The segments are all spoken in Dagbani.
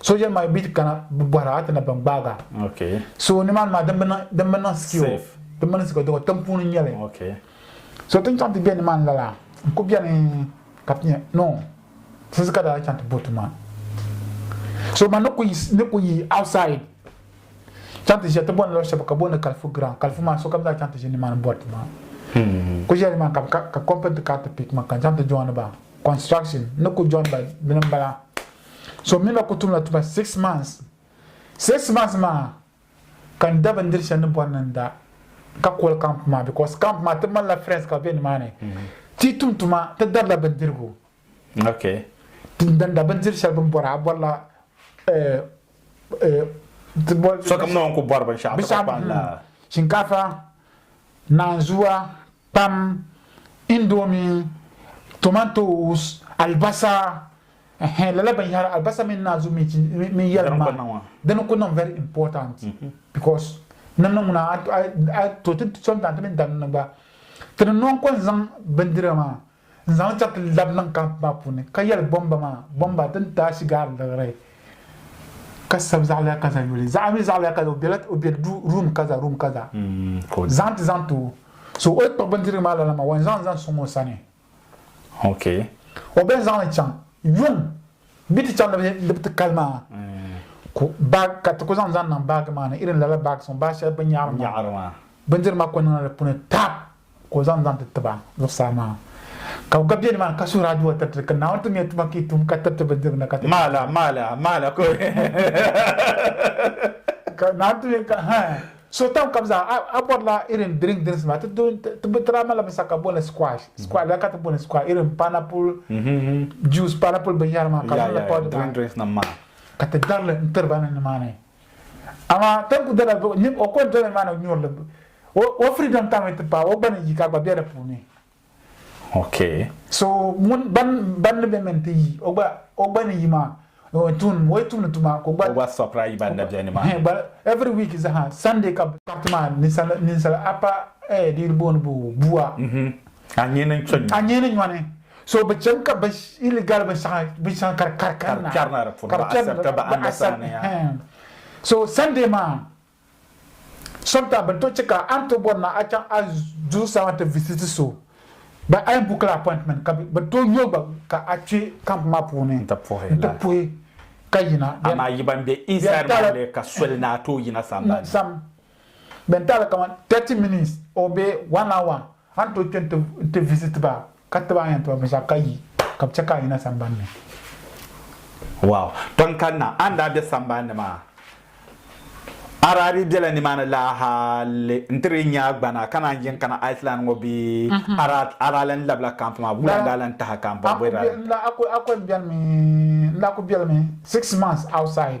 soja nima bi kana bi bɔhira a ti na ban gbaag a so nimaani maa din bi niŋ sikio din bi niŋ sikio dɔgɔ tiŋ puuni nyɛli so tin chaŋ ti bɛ nimaani lala n ku bɛni ka ti nyɛ no sisi ka daa chaŋ ti bo tuma so ma ni ku yi outside chaŋ ti ʒiya ti bɔni lɔɣu shɛba ka booni kalifu ground kalifu maa sokam daa chaŋ ti ʒi nimaani bɔri tuma ku ʒiya nimaani ka company ti ka ti pik ma ka n chaŋ ti join ba construction ni ku join ba dini bala So mi na ku tumla tuma six months. Six months maa ka n da bindiri shɛli ni bɔri ni n da ka koli camp maa because camp maa ti malila friends ka be nimaani. Ti tum tuma ti darila bindirigu. Okay. Ti dan da bindiri shɛli bin bɔra a bɔrila sokam ni o ni ku bɔri binshɛɣu ti kpa n la. Shinkaafa, naanzua, Kpam, indomie, tomatoes, alibasa, ɛhɛn, lala binyɛhiri, alibasa mini naanzu mini yɛlim maa, dini ku niŋ very important because ni niŋ ŋuna a to ti sometimes ti mi dani ni gba ti ni nɔŋ kɔni zaŋ bindira maa. N zaŋ li chaŋ ti labi niŋ kamp maa puuni ka yɛli bɔmba maa, Bɔmba din taai shigaar liɣiri ka sabi zaɣiliya kaza yuli, zaɣa mi zaɣiliya kaza o bela o be duu room kaza room kaza zaŋ ti zaŋ ti o. So o yi kpuɣi bindirigu maa lala maa, o yɛn zaŋ li zaŋ sɔŋ o sani. O bɛn zaŋ li chaŋ yuŋ bi ti chaŋ ni bi ti kali maa ku bag ka ti ku zaŋ zaŋ niŋ bag maa ni irin lala bags ŋɔ bag shɛli bi nyaɣiri maa bindirigu maa ku niŋla di puuni tap ka o zaŋ zaŋ ti ti ba zuɣusaa maa, ka bɛ gba be nimaani ka suhir adua tiriti, ka Naawuni tim ya tuma ka yi tum ka tiriti bindirigna ka ti maa la, maa la, maa la, ka ka Naawuni tim ya ka ha suhi tam ka bɛ zaa, a, a bɔrila irin drink dirisi maa, ti do, ti bɛ daa malila binshɛɣu ka booni squash, squash, lala ka ti booni squash, irin pineapple juice, pineapple binyɛra maa ka bɛ niŋli powder maa, ka ti darili n-tiri ba ni nimaani. Amaa ka ku dala zuɣu nyib o kɔntɔna ni maa ni nyurili o freedom tam yi ti paai o gba ni yi ka gba be di puuni. Okay. So ŋun ban ni be min ti yi o gba o gba ni yi maa o tuun o yi tumni tuma ka o gba. O gba sɔpra yi ban na be ni maa. Gba every week zaha Sunday ka. Party maa ninsali ninsali apa eh di yi booni bua. Anyini n kpe nyɔni. Anyini nyɔni So bi cham ka bin illegal bin shɛŋa bin shɛŋa ka di kari kari na kpɛrina di puuni bi accept bi understand ya so Sunday maa sometimes bin to chɛ ka a ni to bɔri na a chaŋ a zuɣusaa ti visit so ba a yɛn book la appointment ka bin to yo gba ka a kpɛ camp maa puuni n ti puhi ka yina amaa yi ban bɛ inside maa ka soli ni a tooi yina sambani. Bɛn taali kaman 30 minutes or bee one hour a ni tooi kpe nti visit ba ka tiba a ni yɛn tiba binshɛɣu ka yi ka bɛ chɛ ka a yina sambani ni. Wow! Ton kanna, a ni daa be sambani ni maa a daa dii bela nimaani laa hali nti dii nya a gbana ka naan yin kana Iceland ŋɔ bee a daa lan labila camp maa? Wula n-daa lan tahi a ka m bɔri bɔ yi daa lan tahi? A ku beli mi six months outside.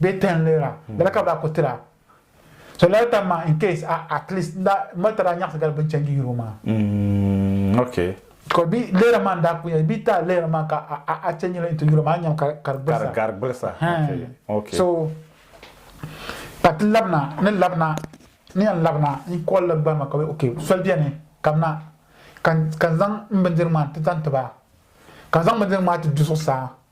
Bee ten leera, lala ka bɛ daa kuli tira. So lala tam maa in case a at least n daa mali taba daa nyaɣisi gali bini change yuri o maa. Mm ok. Because bee leera maa n daa kuli nyɛli bee taa leera maa ka a a change li into yuri maa a ni nyami ka di ka di gbilisa. Ka di gari gbilisa okay okay. So ka ti labina ni labina ni yɛn labina n call la gbarima ka bɛ ok soli beni kamina ka ka n zaŋ m bindirigu maa ti zaŋ ti ba ka n zaŋ bindirigu maa ti du zuɣusaa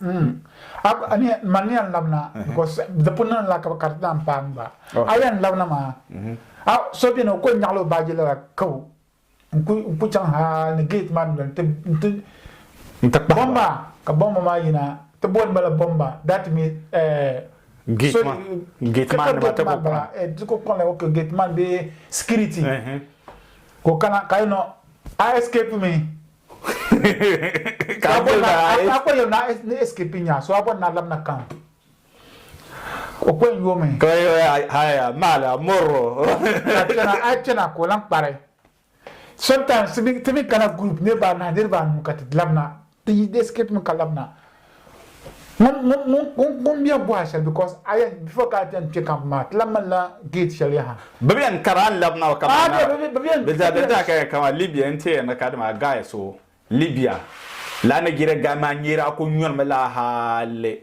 Mm. Man yan labina because di pun niŋla ka ka di daa n-paai gba. A yan labina maa, a so beni o kuli nyaɣila o baaji lala kaw n-ku chaŋ ha ni gate maa dundoli nti bɔmba ka bɔmba maa yina ti booni ba la bɔmba that means gate maa gate maa nima ti ku kpaŋ ti ku kpaŋla ok gate man bee security ka o kana ka you know a escape mi Ka a yuli na a A ko yuli na ni escape nya so a bɔri na labina camp. O ko n yoomi. Ka o yuli haya maala mɔrro. Ka a chana a chana ka o lan kpari. Sometimes ti mi kana group niriba anahi niriba anu ka ti labina ti yi escape mi ka labina ŋun bɛ bɔha shɛli because aya before ka bɛn kpɛ camp maa ti lahi ŋmanila gate shɛli yaha. Bɛ bɛn kara n labi naba kamani na bɛ zaa bɛn zaa ka kamani Libya n tee ni ka dama a guy so Libya laa Nigeria guy maa nyɛri a ku nyɔrimi laa hali.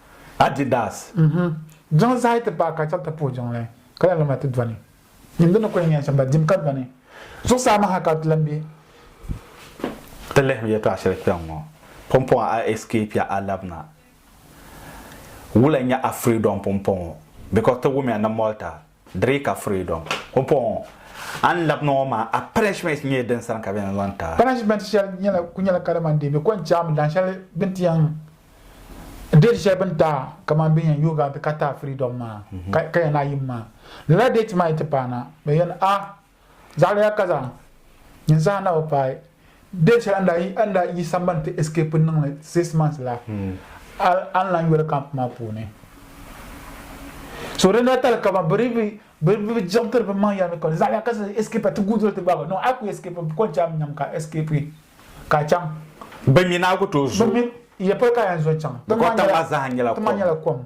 Adidas. Jiŋ zahi ti paai ka chɛri ti puhi jiŋli ka lahi luma ti dɔni. Dim di ni kuli nyɛ shɛm la dim ka dɔni. Zuɣusaa maa ha ka ti lan be. Ti lihim yɛtɔɣ shɛli kpɛŋŋɔ, Pumpɔŋɔ a escape ya a labina. Wula n-nyɛ a freedom pumpɔŋɔ because ti wumiya ni Malta Diri ka freedom ho pɔŋɔ a ni labi niŋ o maa a punishment nyɛɛ din sani ka bɛ ni zaŋ ti a. Punishment shɛli nyɛla ku nyɛla kali man dee bɛ kɔŋ chaami dahin shɛli bɛ ni ti yɛn date shɛli bɛ ni ti a kaman bɛ ni yɛn yooi a nti ka ti a freedom maa ka yɛn a yim maa. Lala date maa yi ti paana bɛ yɛn a Zaɣiliya ka zaŋ nyin saha na o paai deei shɛli n daa yi sambani ti escape n niŋli six months la hmm. a ni lan yoli camp maa puuni so dina tali kama bɛ bi jiɣitiri bɛ maŋ yɛlimi kɔni zaɣiliya ka zaŋ escape ti guudoli ti gbaagi no a ku escape kɔni chaŋ nyam ka escape ka chaŋ bɛ mi naa ku tooi zo yɛ pɔli ka yɛn zo chaŋ tiŋ maa nyɛla kom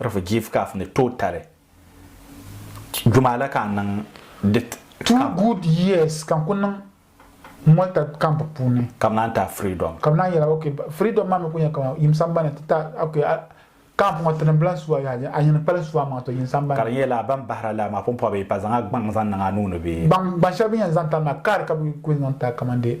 Refugee Caf ni tooi tali jumaa la ka n niŋ di Two camp. good years ka n kuli niŋ Malta camp puuni. Ka bɛ naan ti a freedom. Ka bɛ naan yɛla okay freedom maa mi kuli nyɛla kamani yim sambani ti ta okay a camp ŋɔ tinim bila sua yaha a yini kpali sua maŋa to yim sambani. Ka di nyɛla ban bahira laa maa pumpɔbi pa zaŋ a gbaŋ zaŋ niŋ a nuu ni bee? Gbaŋ gbaŋ shɛli bɛ ni yɛn zaŋ tali maa card ka bɛ kuli zaŋ tali kamani dee.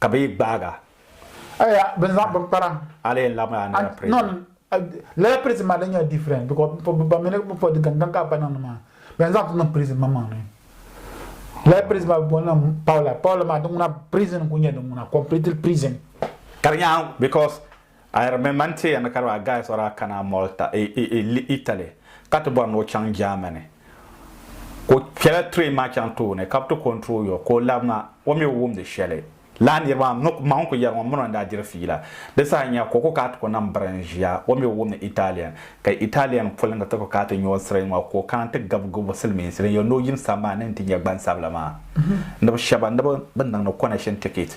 ka bɛ yi gbaag a. Aya bini zaŋ bini kpara. A lee labi a lala prison. Non lala prison maa di nyɛla different because bɛ ba mini bɛ pɔdi gangan ka bɛ ba niŋdi maa bɛ ni zaŋ ti niŋ prison maŋ maŋni. Lala prison maa bɛ booni li Paula Paula maa di ŋuna prison n kuli nyɛ di ŋuna completely prison. Ka di nyaan because. A yɛri mi man teeya ni ka di ba a Gaius ɔri a kana Malta, Italy, ka ti bɔri ni o chaŋ Germany. Ka o kpela train maa chaŋ tooni ka bi ti kɔntiri o yɔɔ ka o labi ma, o mi o wumdi shɛli. Lala niriba maa mi maŋ ku yɛri ma mi ni o ni daa diri fiila. Di saha nya ka o ku kaati ka o nam biri n ʒiya, o mi o wumdi Italian. Ka Italian polinga ti ku kaati nyɔɔ siri ŋɔ ka o kana ti gabi gabi silimiinsi din yɛn ni o yim sambani ni ti nya gbansabila maa ni bi shɛba ni bi niŋdi connection ticket.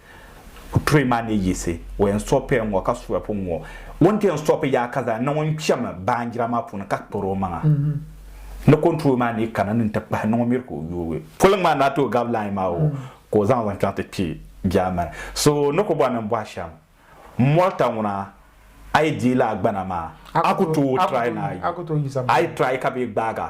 O tuhi ma ni yiɣisi o yɛn sopiya ŋɔ ka suya pun ŋɔ. O ni ti yɛn sopi yaa ka zaŋ niŋ o ni kpɛmi baanjira maa puuni ka kpari o maŋa ni konturooli maa ni kana ni n-ti kpahi niŋ o miri ka o yoogi. Poliŋ maa ni a ti o gabi lain maa o ka o zaŋ zaŋ chaŋ ti kpi Germany. So ni ku bɔri ni n bɔhi shɛm, Malta ŋuna a yi dii lahi gbana maa a ku tooi try ni a yi try ka bee gbaag a.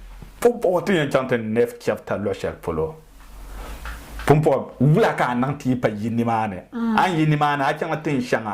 Pumpɔŋɔ ti yɛn chaŋ ti Nɛf chapita luɣ shɛli polo, pumpɔŋɔ wula ka a niŋ ti yi pa yi nimaani? A ni yi nimaani, a chaŋla tin shɛŋa.